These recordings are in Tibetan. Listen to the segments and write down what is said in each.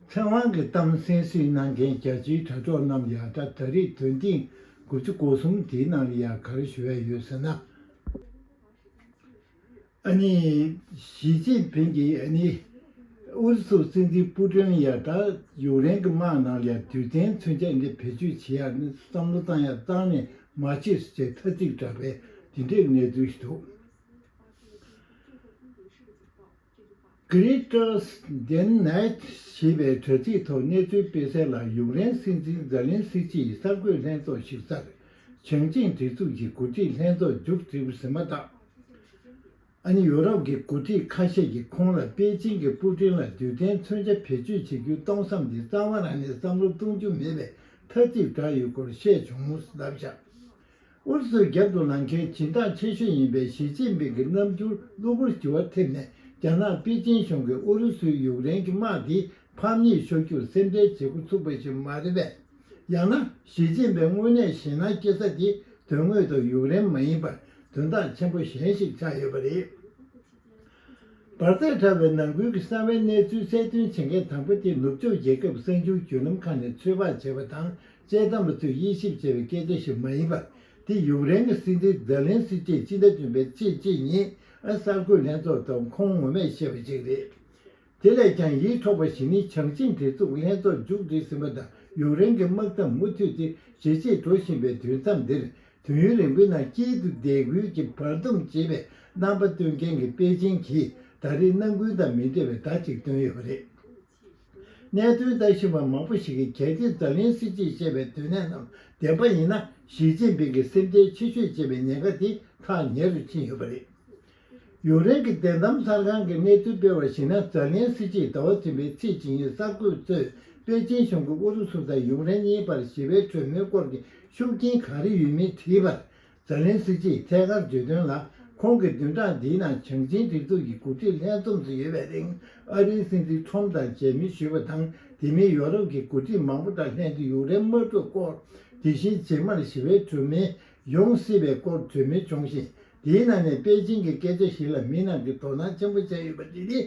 ཚེ་དབང་གི་གཏམ་གསན་སྲིད་གནང་མཁན་རྒྱལ་སྤྱིའི་དྲ་གྲོགས་རྣམས་ཡང་ད་ད་རེས་དོན་ཐེངས་དགུ་བཅུ་གོ་གསུམ་དེའི་ནང་ལ་ཡང་ག་རེ་ཞུ་ཡ་ཡོད་ཟེར་ན། ཨ་ནི། ཞིས་ཅིན་ཕིང་གིས་ཨ་ནི། ཨུ་རུ་སུ་སྲིད་འཛིན་པུ་ཀྲིན་ཡང་ད་ཡུག་རེན་གི་དམག་ནང་ལ་ཡང་དུས་གཏན་ཚུན་ཆད་ནས་བེད་སྤྱོད་བྱེད་ཡ་ནི་བསམ་བློ་བཏང་ཡ་བཏང་ནས་མ་བྱེད་སུ་བྱེད་ཐ་ཚིག་བསྒྲགས་པས་དེ་འདྲའི་གནས་ཚུལ་ཞིག་འདུག། Greatest Dane Night ཞེས་པའི་དྲ་ཚིགས་ཐོག་གནས་ཚུལ་སྤེལ་གསལ་ལ་ཡུཀ་རེན་སྲིད་འཛིན་ཛེ་ལན་སི་ཀྱིས་གསར་འགོད་ལྷན་ཚོགས་ཞིག་བསར། བྱང་ཆིངས་སྒྲིག་འཛུགས་ཀྱི་འགོ་ཁྲིད་ལྷན་ཚོགས་མཇུག་བསྒྲིལ་ཟིན་མ་ཐག་ཨ་ནི་ཡོ་རོབ་ཀྱི་འགོ་ཁྲིད་ཁ་ཤས་ཀྱིས་ཁོང་ལ་པེ་ཅིང་གི་པུ་ཀྲིན་ལ་དུས་གཏན་མཚོན་ཆ་བེད་སྤྱོད་བྱེད་རྒྱུའི་གཏོང་བསམ་དེ་རྩ་བ་རང་ནས་བསམ་བློ་གཏོང་རྒྱུ་མེད་པའི་ཐ་ཚིག་བསྒྲགས་ཡོད་སྐོར་བཤད་བྱུང་ཟླ་བཞག་ཨུ་རུ་སུའི་རྒྱབ་ཏུ་ལངས་མཁན་བྱེ་ཐང་ཆེ་ཤོས་ཡིན་པའི་ཞི་ཅིན་ཕིང་གི་རྣམ་འགྱུར་གློ་བུར་འགྱུར་བ་ཐེབས་ནས་རྒྱ་ནག་པེ་ཅིན་གཞུང་གིས་ཨུ་རུ་སུའི་ཡུག་རེན་གྱི་དམག་དེ་ཕམ་ཉེས་ཤོར་རྒྱུར་སེམས་ཁྲལ་བྱེད་འགོ་ཚུགས་པ་ཞིག་མ་རེད་པས། ཡང་ན་ཞི་ཅིན་ཕིང་དངོས་གནས་ཞེད་སྣང་སྐྱེ་ས་དེ་དོན་དངོས་ཐོག་ཡུག་རེན་མ་ཡིན་པར་དོན་དག་ཆེན་པོ་གཞན་ཞིག་ཆགས་ཡོད་པ་རེད། འབར་རྫས་ཕྲ་བའི་ནང་ཁུལ་གྱི་གསང་བའི་གནས་ཚུལ་གསལ་སྟོན་བྱེད་མཁན་དང་པོ་དེ་ནུབ་ཕྱོགས་རྒྱལ་ཁབ་གསར་འགྱུར་བརྒྱུད་ལམ་ཁག་ནས་ཚོད་དཔག་བྱས་པ་དང་དཔྱད་གཏམ་པ་ཚོས་དབྱེ་ཞིབ་བྱས་པའི་སྐད་ཆ་ཞིག་མ་ཡིན་པར་དེ་ཡུཀ་རེན་གྱི་སྲིད་འཛིན་ཛེ་ལན་སི་ཀྱིས་ཕྱི་ཟླ་བདུན་པའི་ཚེས་གཅིག་ཉིན་གསར་འགོད་ལྷན་ཚོགས་ཐོག་ཁོང་ངོ་མས་བཤད་པ་ཞིག་རེད། དེ་ལས་ཀྱང་ཡིད་འཕྲོག་པ་ཞིག་ནི་བྱང་ཆིངས་དེ་གཙུག་ལྷན་ཚོགས་མཇུག་བསྒྲིལ་ཟིན་པ་དང་ཡུཀ་རེན་གྱི་དམག་མཚམས་མུ་མཐུད་དེ་ཇེ་ཆེར་འགྲོ་བཞིན་པའི་དུས་མཚམས་འདིར་དུས་ཡུན་རིང་པོའི་ནང་དཀྱིལ་དུ་རྡེལ་སྒུལ་གྱི་བར་སྡོམ་བྱེད་པའི་རྣམ་པ་སྟོན་མཁན་གྱི་པེ་ཅིང་གིས་ད་རེས་ནམ་རྒྱུན་དང་མི་འདྲ་བའི་བརྡ་གཅིག་བཏོན་ཡོད་པ་རེད། གནད་དོན་ལྟ་བཞིན་པ་མང་པོ་ཞིག་གིས་གལ་ཏེ་འཛམ་གླིང་སྲིད་སྤྱིས་བཤད་པའི་དོན་གནད་རྣམས་བདེན་པ་ཡིན་ན་ཞི་ཅིན་ཕིང་གིས་སེམས་ཁྲལ་ཆེ་ཤོས་བྱེད་པའི་ཉེན་ཁ་དེ་ཐག་ཉེ་རུ་ཕྱིན་ཡོད་པ་རེད། ཡུག་རེན་གྱི་བདེན་གཏམ་གསར་ཁང་གིས་གནས་ཚུལ་སྤེལ་བར་གཞིགས་ན་ཛཱ་ལན་སི་ཅིས་ཟླ་བ་ཚུན་པའི་ཚེས་གཅིག་ཉིན་གསར་འགོད་གཙོས་པེ་ཅིན་གཞུང་གིས་ཨུ་རུ་སུ་དང་ཡུག་རེན་གཉིས་བར་ཞི་བའི་གྲོས་མོལ་སྐོར་གྱི་ཤུགས་རྐྱེན་ག་རེ་ཡོད་མེད་དྲིས་པར་ཛཱ་ལན་སི་ཅིས་ཐད་ཀར་བརྗོད་དོན་ལ་ཁོང་གིས་བདུན་ཕྲག་འདིའི་ནང་བྱང་ཆིངས་སྒྲིག་འཛུགས་ཀྱི་འགོ་ཁྲིད་ལྷན་འཛོམས་སུ་ཡོད་པའི་རིང་ཨ་རིའི་སྲིད་འཛིན་ཁྲོམ་དང་མཇལ་མོལ་ཞུས་པ་དང་དེ་མིན་ཡོ་རོབ་ཀྱི་འགོ་ཁྲིད་མང་པོ་དང་ལྷན་དུ་ཡུག་རེན་དམག་འཁྲུག་སྐོར་དེ་བཞིན་རྗེས་མར་ཞི་བའི་གྲོས་མོལ་ཡོང་སྲིད་པའི་སྐོར་གྲོས་མོལ་བྱུང་ཞིང་དེའི་ནང་ནས་པེ་ཅིང་གི་སྐད་ཆ་ཞིག་ལ་མི་རྣམས་ཀྱིས་དོ་སྣང་ཆེན་པོ་བྱས་ཡོད་པ་དེ་ནི།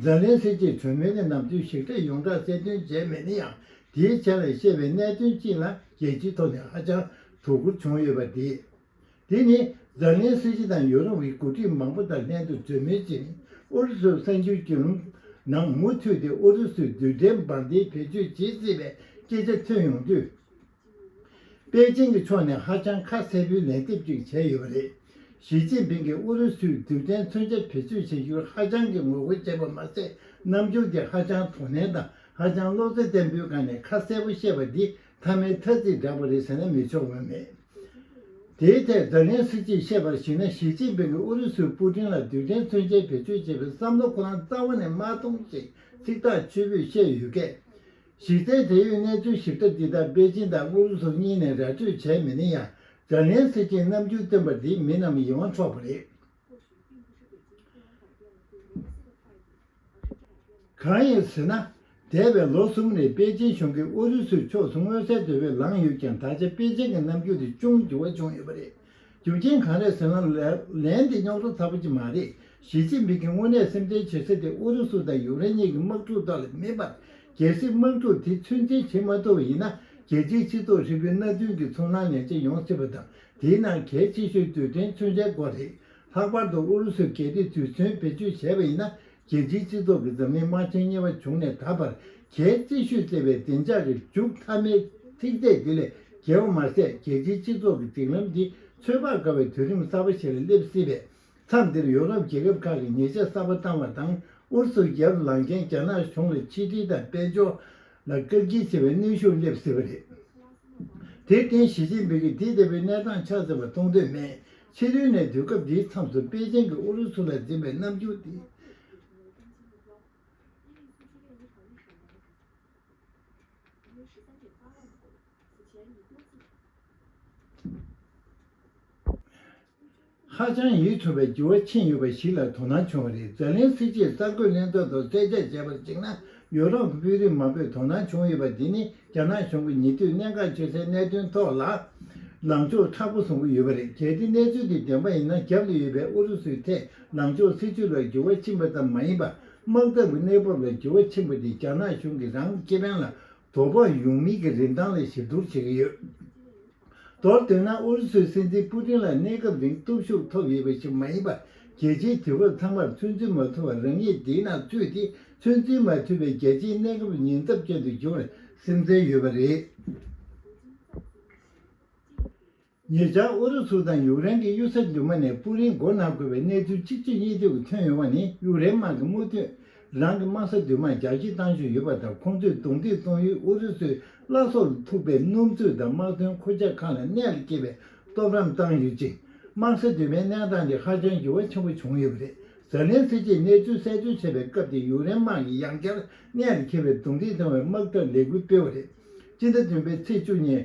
ཛཱ་ལན་སི་ཀྱིས་གྲོས་མོལ་གྱི་ནམ་ཚོད་ཞིག་ཐད་ཡོངས་གྲགས་གསལ་སྟོན་བྱས་མེད་ན་ཡང་དེའི་ཆ་ལ་བཤད་པའི་གནད་དོན་གཅིག་ལ་རྒྱལ་སྤྱིའི་ཐོག་ནས་ཧ་ཅང་དོ་ཁུར་བྱུང་ཡོད་པ་དེ། དེ་ནི་ཛཱ་ལན་སི་ཀྱི་དང་ཡོ་རོབ་ཀྱི་འགོ་ཁྲིད་མང་པོ་དང་ལྷན་དུ་གྲོས་མོལ་བྱས་ནས་ཨུ་རུ་སུར་གསར་འགྱུར་གྱི་ནང་མུ་མཐུད་དེ་ཨུ་རུ་སུས་རྡུལ་ཕྲན་འབར་མདེལ་བེད་སྤྱོད་བྱེད་སྲིད་པའི་སྐད་ཆ་ཐོན་ཡོང་དུས། པེ་ཅིང་གི་ཕྱོགས་ནས་ཧ་ཅང་ཁ་གསལ་པོའི་ལན་འདེབས་ཅིག་བྱས་ཡོད་པ་རེད། ཞི་ཅིན་ཕིང་གིས་ཨུ་རུ་སུས་རྡུལ་ཕྲན་མཚོན་ཆ་བེད་སྤྱོད་བྱེད་རྒྱུར་ཧ་ཅང་གི་ངོ་རྒོལ་བྱས་པ་མ་ཟད་རྣམ་འགྱུར་གྱིས་ཧ་ཅང་དོ་ནན་དང་ཧ་ཅང་བློ་རྩེ་བརྟན་པོའི་སྒང་ནས་ཁ་གསལ་པོ་བཤད་པ་འདི་མཐའ་མའི་ཐ་ཚིག་བསྒྲགས་པ་རེད་ཟེར་ན་མི་ཆོག་འོས་མེད། དེའི་ཐད་ཛེ་ལན་སི་ཀིས་བཤད་པར་གཞིགས་ན་ཞི་ཅིན་ཕིང་གིས་ཨུ་རུ་སུས་པུ་ཀྲིན་ལ་རྡུལ་ཕྲན་མཚོན་ཆའི་བེད་སྤྱོད་བྱེད་པའི་བསམ་བློ་ཁོ་རང་རྩ་བ་ནས་མ་མཐོང་ཞེས་ཚིག་ཐག་ཆོད་པོས་བཤད་ཡོད་སྐད། གཞི་རྩའི་འབྲེལ་ཡོད་གནས་ཚུལ་ཞིབ་ཕྲ་འདི་དག་པེ་ཅིན་དང་ཨུ་རུ་སུ་གཉིས་ནས་ར་སྤྲོད་བྱས་མེད་ན་ཡང་ཛཱ་ལན་སི་ཀིས་རྣམ་འགྱུར་སྟོན་པ་འདིས་མི་རྣམས་ཡིད་དབང་འཕྲོག་པ་རེད། གང་ཡིན་ཟེར་ན། འདས་པའི་ལོ་གསུམ་རིང་པེ་ཅིན་གཞུང་གིས་ཨུ་རུ་སུའི་ཕྱོགས་སུ་མངོན་གསལ་དོད་པོས་ལངས་ཡོད་ཀྱང་ད་ཆ་པེ་ཅིན་གྱི་རྣམ་འགྱུར་དེ་ཅུང་འགྱུར་བ་བྱུང་ཡོད་པ་རེད། རྒྱུ་རྐྱེན་གང་རེད་ཟེར་ན་ལན་དེ་རྙོག་དྲ་ཚ་པོ་ཅིག་མ་རེད། ཞི་ཅིན་པིན་གྱིས་དངོས་གནས་སེམས་ཁྲལ་བྱེད་ས་དེ་ཨུ་རུ་སུ་དང་ཡུག་རེན་གཉིས་ཀྱི་དམག་འཁྲུག་ཐོག་ལས་མེད་པར་རྒྱལ་སྲིད་དམག་འཁྲུག་དེ་ཚོད་འཛིན་བྱེད་མ་ཐུབ་པ་ཡིན་ན་རྒྱལ་སྤྱིའི་སྤྱི་ཚོགས་ཧྲིལ་པོའི་མནའ་མཐུན་གྱི་ཚོར་སྣང་ངེས་ཅན་ཡོང་སྲིད་པ་དང་དེའི་ནང་གལ་ཆེ་ཤོས་དུས་དྲན་མཚོན་ཆའི་སྐོར་རེད། ལྷག་པར་དུ་ཨུ་རུ་སུས་གལ་ཏེ་དུས་མཚོན་བེད་སྤྱོད་བྱས་པ་ཡིན་ན་རྒྱལ་སྤྱིའི་སྤྱི་ཚོགས་ཀྱིས་འཛམ་གླིང་དམག་ཆེན་གཉིས་པ་བྱུང་ནས་ད་བར་གལ་རྩི་ཤོས་བཅས་པའི་བདེ་འཇགས་ཀྱི་མཇུག་མཐའ་མའི་ཚིག་ཚད་དེ་ལས་བརྒལ་བ་མ་ཟད་རྒྱལ་སྤྱིའི་སྤྱི་ཚོགས་ཀྱི་སྒྲིག་ལམ་འདི་ཚོད་དཔག་དཀའ་བའི་དུས་རིམ་གསར་པ་ཞིག་ལ་སླེབས་སྲིད་པས་མཚམས་འདིར་ཡོ་རོབ་རྒྱལ་ཁབ་ཁག་གིས་ཉེས་ཆད་གསར་པ་བཏང་བ་དང་ཨུ་རུ་སུར་རྒྱལ་དུ་ལངས་མཁན་རྒྱ་ནག་གཞུང་ལ་ཆིག་སྒྲིལ་དང་དཔལ་འབྱོར་ལ་བཀག་སྐྱིལ་བྱེད་པའི་གནོན་ཤུགས་སླེབས་སྲིད་པ་རེད། དེར་བརྟེན་ཞི་ཅིན་ཕིང་གིས་དེ་ལྟ་བུའི་གནས་སྟངས་ཆགས་སྲིད་པ་མཐོང་འདོད་མེད་ཕྱི་རོལ་ནས་དུས་སྐབས་འདིའི་མཚམས་སུ་པེ་ཅིང་གིས་ཨུ་རུ་སུ་ལ་འཛིན་པའི་རྣམ་འགྱུར་དེ། ཧ་ཅང་ཡིད་འཕྲོག་པའི་འགྱུར་བ་ཕྱིན་ཡོད་པ་ཞིག་ལ་དོ་སྣང་བྱུང་བ་རེད་ཛེ་ལན་སི་ཀྱིས་གསར་འགོད་གླེང་སྟེགས་ཐོག་གསལ་བཤད་བྱས་པར་གཞིགས་ན། ཡོ་རོབ་ཀྱི་དཔོན་རིགས་མང་པོས་དོ་སྣང་བྱུང་ཡོད་པ་འདི་ནི་རྒྱ་ནག་གཞུང་གིས་ཉེ་དུས་གནད་འགག་ཆེ་སའི་གནད་དོན་ཐོག་ལ་ལངས་ཕྱོགས་མཁྲེགས་པོ་བཟུང་གི་ཡོད་པ་རེད་གལ་ཏེ་གནས་ཚུལ་དེ་བདེན་པ་ཡིན་ན་རྒྱབ་ཏུ་ཡོད་པའི་ཨུ་རུ་སུའི་ཐད་ལངས་ཕྱོགས་སྲིད་བྱུས་ལ་འགྱུར་བ་ཕྱིན་པ་ཙམ་མ་ཡིན་པར་དམག་འཐབ་ཀྱི་གནས་བབ་ལ་འགྱུར་བ་ཕྱིན་པ་དེས་རྒྱ་ནག་གཞུང་གིས་རང་གི་ཁེ་ཕན་ལ་དོ་ཕོག་ཡོང་མིན་གྱི་རིན་ཐང་ལ་ཞིབ་བསྡུར་བྱེད་ཀྱི་ཡོད། མདོར་བསྡུས་ན་ཨུ་རུ་སུའི་སྲིད་འཛིན་པུ་ཏིན་ལ་གནས་སྐབས་རིང་སྟོབས་ཤུགས་ཐོབ་ཡོད་པ་ཞིག་མ་ཡིན་པར་རྒྱལ་སྤྱིའི་དུས་བབ་ཚང་མར་ཚོད་འཛིན་མ་ཐུབ་པར་རང་ཉིད་འདིའི་ནང་ཚུད་དེ་ཚོད་འཛིན་མ་ཐུབ་པའི་རྒྱལ་སྤྱིའི་གནས་སྐབས་ཉེན་ཚབས་ཅན་དུ་འགྱུར་བར་སེམས་ཁྲལ་ཡོད་པ་རེད། ཉེ་ཆར་ཨུ་རུ་སུ་དང་ཡུག་རེན་གྱི་གཡུལ་ས་མདུན་མ་ནས་པུ་རིན་མགོ་ན་དགོས་པའི་གནས་ཚུལ་གཅིག་ཆོད་གཉིས་སྡུད་ཀྱིས་ཐོན་ཡོང་བ་ནི་ཡུག་རེན་དམག་གི་རྨོ་དུས་རང་གི་དམག་ས་བདུན་མ་རྒྱག་ཁྱི་བཏང་བཞིན་ཡོད་པ་དང་ཁོང་ཚོས་རྡུང་རྡེག་གཏོང་ཡུལ་ཨུ་རུ་སུའི་བླ་སྲོག་ལ་ཐུག་པའི་སྣུམ་རྩོད་དང་དམག་དོན་འཁོར་ཆགས་ཁང་ལ་ནད་སྐྱེས་པའི་སྟོབས་རམ་བཏང་ཡོད་ཅིང། དམག་ས་བདུན་མའི་གནས་སྟངས་དེ་ཧ་ཅང་འགྱུར་བ་ཆེན་པོ་བྱུང་ཡོད་པ་རེད། ཛཱ་ལན་སི་ཀྱིས་གནས་ཚུལ་གསལ་བརྗོད་བྱས་པའི་སྐབས་དེ་ཡུག་རེན་དམག་གིས་ཡང་བསྐྱར་ནད་ལ་འཁེལ་བའི་རྡུང་རྡེག་གཏོང་བའི་དམག་འཐབ་ལས་འགུལ་སྤེལ་བ་རེད། སྤྱི་ཟླ་བདུན་པའི་ཚེས་བཅུ་ཉིན།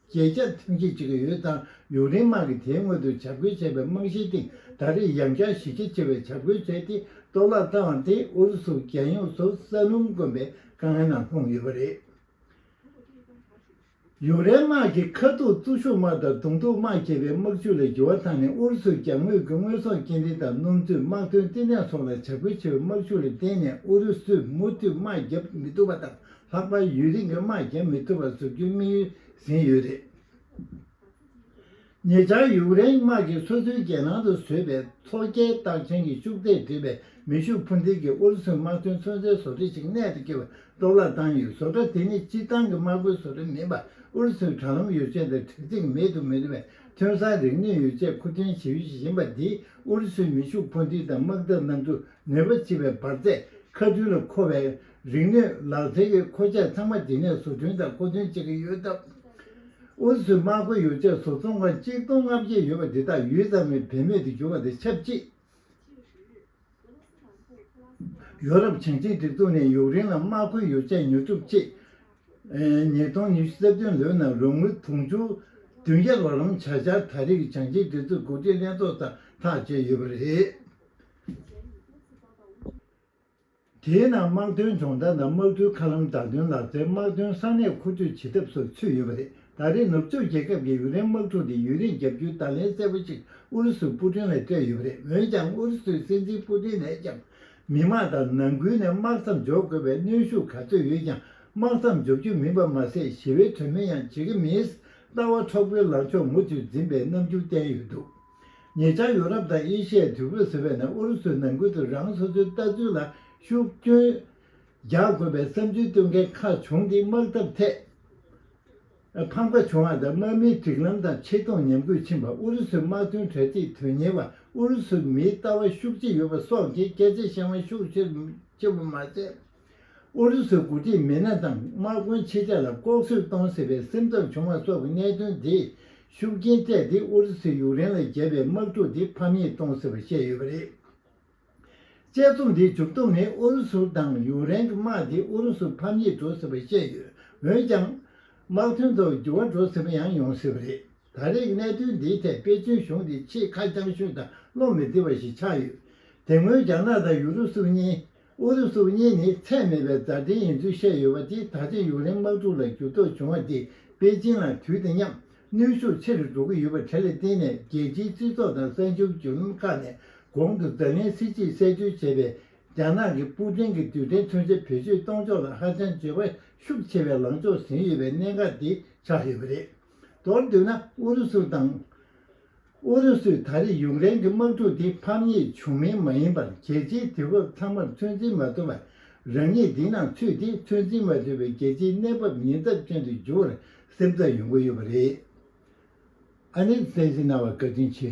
བརྗེད་བྱ་ཐེངས་ཤིག་བྱེད་ཀྱི་ཡོད་ཙང་ཡུག་རེན་དམག་གིས་དེའི་སྔོན་དུ་བྱ་རྒོད་བྱས་པའི་རྨང་གཞིའི་སྟེང་ད་རེས་ཡང་བསྐྱར་གཞི་རྒྱ་ཆེ་བའི་བྱ་རྒོད་བྱས་ཏེ་གཏོར་བརླག་བཏང་སྟེ་ཨུ་རུ་སུ་རྒྱལ་ཡོངས་སུ་ས་སྣུམ་དཀོན་པའི་དཀའ་ངལ་ནང་ལྷུང་ཡོད་པ་རེད། ཡུག་རེན་དམག་གིས་ཁ་ཐུག་བཙོ་གཞུག་དམག་དང་གདོང་ཐུག་དམག་བྱས་པའི་དམག་ཇུས་ལ་འགྱུར་བ་བཏང་ནས་ཨུ་རུ་སུའི་གྱང་ངོས་ཀྱི་དངོས་ཟོག་སྐྱེལ་འདྲེན་དང་སྣུམ་བཙོས་དམག་དོན་ལྟེ་གནས་སོགས་ལ་བྱ་རྒོད་བྱས་པའི་དམག་ཤུགས་ལ་བརྟེན་ནས་ཨུ་རུ་སུས་མུ་མཐུད་དམག་བརྒྱབ་མི་ཐུབ་པ་དང་ལྷག་པར་ཡུན་རིང་གི་དམག་རྒྱག་མི་ཐུབ་པ་བཟོ་རྒྱུའི་དམིགས་ཡུལ་ཟིན་ཡོད་རེད། ཉེ་ཆར་ཡུཀ་རེན་དམག་གིས་སོ་སོའི་རྒྱལ་ནང་དུ་བཟོས་པའི་མཚོ་རྒྱལ་རྟགས་ཅན་གྱི་ཤུགས་ཚད་བྲིས་པའི་མེ་ཤུགས་འཕུར་མདེལ་གྱིས་ཨུ་རུ་སུའི་དམག་དོན་མཚོན་ཚའི་བཟོ་གྲྭ་ཞིག་གནད་དུ་འཁེལ་བར་གཏོར་བརླག་བཏང་ཡོད། བཟོ་གྲྭ་དེ་ནི་སྤྱིར་བཏང་གི་དམག་དཔོན་བཟོ་གྲྭ་མིན་པར་ཨུ་རུ་སུའི་དྲ་ལམ་ཡོ་བྱད་དང་དྲ་ཚིགས་མེད་དུ་མི་རུང་བའི་ཐོན་ས་རིག་ནུས་ཡོ་བྱད་མཁོ་འདོན་བྱེད་ཡུལ་ཞིག་ཡིན་པ་འདིས་ཨུ་རུ་སུའི་མེ་ཤུགས་འཕུར་མདེལ་དང་དམག་འཐབ་གནམ་གྲུ་ནུས་པ་ཆེ་བའི་འབར་རྫས་ཁ་མཐུན་ལ་མཁོ་བའི་རིག་གནས་ལག་རྩལ་གྱི་མཁོ་ཆས་ཚང་མ་རྗེས་ནས་བཟོ་སྐྲུན་དང་མཁོ་འདོན་བྱེད་ཀྱི་ཡོད་སྟབས། ཨུ་རུ་སུའི་དམག་མཁོ་ཡོ་བྱད་བཟོ་ཚོང་ཁང་གཅིག་སྟོང་ལྔ་བརྒྱ་ཡོད་པ་འདི་དག་ཡུད་ཙམ་རིང་བེད་མེད་དུ་གྱུར་བ་དང་ཆབས་ཅིག། ཡོ་རོབ་བྱང་ཆིངས་སྒྲིག་འཛུགས་ནས་ཡུཀ་རེན་ལ་དམག་མཁོ་ཡོ་བྱད་ཉོ་སྒྲུབ་ཆེད། ཉིས་སྟོང་ཉི་ཤུ་རྩ་བདུན་ལོའི་ནང་རོགས་དངུལ་དུང་ཕྱུར་བདུན་བརྒྱ་རོགས་རམ་བྱ་འཆར་ད་རེས་ཀྱི་བྱང་ཆིངས་སྒྲིག་འཛུགས་གོ་སྒྲིག་ལྷན་ཚོགས་ཚར་ཐག་བཅད་ཡོད་པ་རེད། དེའི་ནང་དམག་དོན་སྦྱོང་བརྡར་དང་དམག་གྲུའི་མཁའ་ལམ་བདག་དོན་ལག་རྩལ་དམག་དོན་ས་གནས་མཁོ་སྤྲོད་བྱེད་ཐབས་སོགས་ཚུད་ཡོད་པ་རེད་ད་རེས་ནུབ་ཕྱོགས་རྒྱལ་ཁབ་ཀྱི་ཡུག་རེན་དམག་འཁྲུག་དེ་ཡུན་རིང་རྒྱབ་རྒྱུའི་བརྡ་ལན་གསལ་པོ་ཞིག་ཨུ་རུ་སུའི་པུ་ཀྲིན་ལ་སྤྲད་ཡོད་པ་རེད་འོན་ཀྱང་ཨུ་རུ་སུའི་སྲིད་འཛིན་པུ་ཀྲིན་ནས་ཀྱང་མི་དམངས་དང་ནང་ཁུལ་ནས་དམག་མཚམས་འཇོག་དགོས་པའི་གནོན་ཤུགས་ག་ཚོད་ཡོད་ཀྱང་དམག་མཚམས་འཇོག་རྒྱུ་མིན་པ་མ་ཟད་ཞི་བའི་གྲོས་མོལ་ཡང་བྱེད་ཀྱི་མིན། ལྟ་བ་འཕྲོག་པོའི་ལངས་ཕྱོགས་མུ་མཐུད་འཛིན་པའི་རྣམ་འགྱུར་བསྟན་ཡོད་འདུག། ཉེ་ཆར་ཡོ་རོབ་དང་ཨེ་ཤི་ཡའི་དུས་བབ་ཟེར་བས་ནས་ཨུ་རུ་སུའི་ནང་ཁུལ་དུ་རང་སོ་སོའི་ལྟ་ཚུལ་ལ་ཤུགས་རྐྱོན་རྒྱག་དགོས་པའི་བསམ་ཚུལ་སྟོན་མཁན་ཁག་བྱུང་སྟེ་དམག་འཐབ་ཐད་ཕམ་ཁ་བྱུང་བ་དང་དམག་མིའི་སྒྲིག་ལམ་དང་ཆེ་མཐོང་ཉམས་རྒུད་ཕྱིན་པ་ཨུ་རུ་སུའི་དམག་དོན་གྲ་སྒྲིག་དོན་གཉེར་བ་ཨུ་རུ་སུའི་མིའི་ལྟ་བ་ཤུགས་ཆེ་ཡོད་པ་སོགས་ཀྱི་སྐད་ཆ་བཤད་དབང་ཤུགས་ཆེ་པོ་མ་བྱས། ཨུ་རུ་སུའི་འགོ་ཁྲིད་མི་སྣ་དང་དམག་དཔོན་ཆེ་ཆ་ལ་ལྐོག་གསོད་གཏོང་སྲིད་པའི་སེམས་འཚབ་བྱུང་བ་སོགས་ཀྱི་གནད་དོན་དེས་ཤུགས་རྐྱེན་སྤྲད་དེ་ཨུ་རུ་སུས་ཡུག་རེན་ལ་བརྒྱབ་པའི་དམག་འཁྲུག་དེ་ཕམ་ཉེས་གཏོང་སྲིད་པར་བཤད་ཡོད་པ་རེད། དཔྱད་རྩོམ་དེའི་མཇུག་སྡོམ་ནི་ཨུ་རུ་སུ་དང་ཡུག་རེན་གྱི་དམག་དེས་ཨུ་རུ་སུར་ཕམ་ཉེས་འགྲོ་སྲིད་པར་བཤད་ཡོད། འོན་ཀྱང། དམག་དོན་ཐོག་འགྱུར་བ་འགྲོ་སྲིད་པ་ཡང་ཡོང་སྲིད་པ་རེད། ད་རེས་ཀྱི་གནད་དོན་འདིའི་ཐད་པེ་ཅིན་གཞུང་དེ་ཆེས་ཁ་རྐྱང་ཤོས་དང་བློ་མི་བདེ་བ་ཞིག་ཆགས་ཡོད། དེ་སྔོན་རྒྱ་ནག་དང་ཡུ་རུ་སུ་གཉིས། ཨུ་རུ་སུ་གཉིས་ནི་ཚད་མེད་པའི་མཛའ་འབྲེལ་ཡིན་ཚུལ་བཤད་ཡོད་པ་དེས་ད་ཆ་ཡུག་རེན་དམག་འཁྲུག་ལ་འགྱུར་ལྡོག་བྱུང་བ་དེས་པེ་ཅིན་ལ་དུས་དང་མཉམ་གནོན་ཤུགས་ཆེ་རུ་འགྲོ་གི་ཡོད་པ་དེ་ལ་བརྟེན་ནས་རྒྱལ་སྤྱིའི་སྤྱི་ཚོགས་དང་གསར་འགྱུར་བརྒྱུད་ལམ་ཁག་ནས་གོང་དུ་བརྡ་ལན་གསེར་གྱིས་གསལ་བརྗོད་བྱས་པའི་རྒྱ་ནག་གིས་པུ་ཀྲིན་གྱི་དུས་དྲན་མཚོན་ཆ་བེད་སྤྱོད་གཏོང་ཕྱོགས་ལ་ཧ་ཅང་འགྱོད་པ་ཤུགས་ཆེ་བའི་ལངས་ཕྱོགས་ཟིན་ཡོད་པའི་གནད་འགག་དེ་ཆགས་ཡོད་པ་རེད། མདོར་བསྡུས་ན་ཨུ་རུ་སུ་དང། ཨུ་རུ་སུས་ད་རེས་ཡུཀ་རེན་གྱི་དམག་འཁྲུག་འདི་ཕམ་ཉེས་བྱུང་མིན་མ་ཡིན་པར་རྒྱལ་སྤྱིའི་དུས་བབ་ཚང་མར་ཚོད་འཛིན་མ་ཐུབ་པར་རང་ཉིད་འདི་ནང་ཚུད་དེ་ཚོད་འཛིན་མ་ཐུབ་པའི་རྒྱལ་སྤྱིའི་གནས་བབ་ཉེན་ཚབས་ཅན་དུ་འགྱུར་བར་སེམས་འཚབ་ཡོང་གི་ཡོད་པ་རེད། ཨ་ནེས་གསལ་བཤད་གནང་བར་བཀའ་དྲིན་ཆེ།